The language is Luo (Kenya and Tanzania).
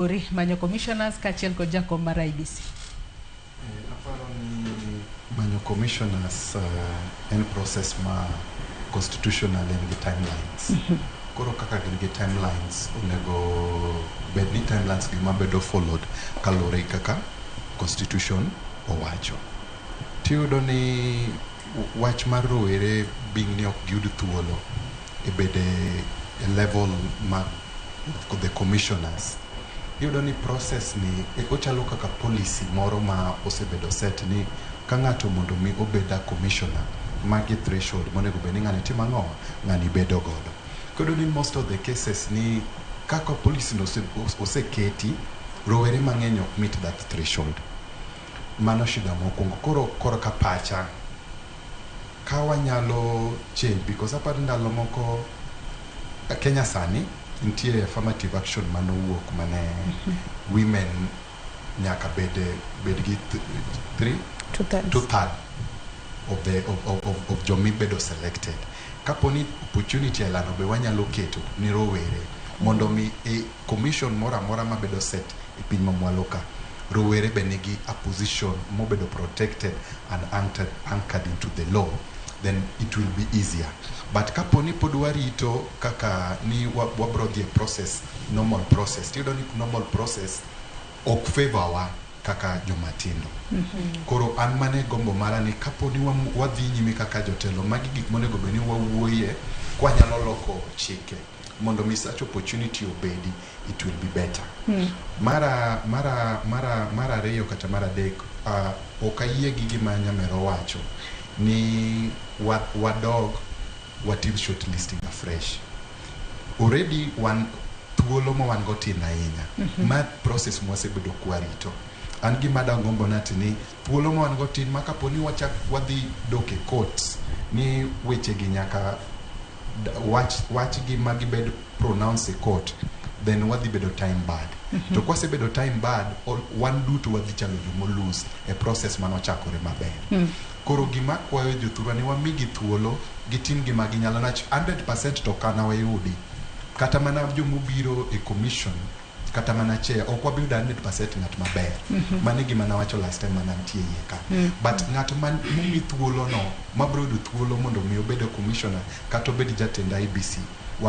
Ori manyo commissioners kachiel kod jakom mar IBC. Aparo ni manyo commissioners uh, en process ma constitutional en gi timelines. Koro kaka gin gi timelines onego bed ni timelines gi ma bedo followed kaluwore gi kaka constitution owacho. Tiyudo ni w- wach mar rowere being ni ok giyud thuolo e bede e level mag the commissioners iyudo ni process ni e- ochalo kaka policy moro ma osebedo set ni ka ng'ato mondo mi obed a commissioner magi threshold monego bed ni ng'ani timo ang'o ng'ani bedo godo kodo ni most of the cases ni kaka policy no ose- ose- oseketi rowere mang'eny ok meet that threshold mano shida mokwongo koro koro ka pacha ka wanyalo change because aparo ndalo moko eh, Kenya sani nitie affirmative action mane owuok mane women nyaka bed bed gi th- three Two thirds. two third of the of, of, of, of jomi bedo selected kapo ni opportunity elano be wanyalo keto ni rowere mondo mi e, Commission moro amora mabedo set e piny mamwalo ka, rowere be nigi a position mobedo protected and anchored into the law then it will be easier but kapo ni pod warito kaka ni wabro dhi e process, normal process, tiyudo ni normal process ok favour wa kaka jomatindo. Mm-hmm. Koro an mane gombo mara ni kapo ni wadhi nyime kaka jotelo, magi gik monego bed ni wawuoye kwanyalo loko chike. mondo mi such opportunity obedi it will be better hmm. mara mara mara mara ariyo kata mara adek uh, ok ayie gi gima nyamero wacho ni wadog watim short listing afresh already wan thuolo ma wan go tin ahinya mm -hmm. ma process mwasebedo kwarito an gima dangombo nati ni Thuolo ma wan go tin ma kapo ni wachak wadhi dok e courts ni weche gi nyaka d- wach wach gi ma gibed pronounce e court then wadhi bedo time bad to kwasebedo time bad all- wan duto wadhi chalo jomolus e process mane ochakore maber koro gima akwayo jothurwa ni wamigi thuolo gitim gima ginyalo nach 100 to kanawayudi kata mana jomobiro e commission kata mana chair ok wabi yudo 100% ng'at maber mano e gima nawacho last time mana nitie iye ka but ng'at man momi thuolono mabiro yudo thuolo mondo mi obed a commissioner kata obed jatend IBC wame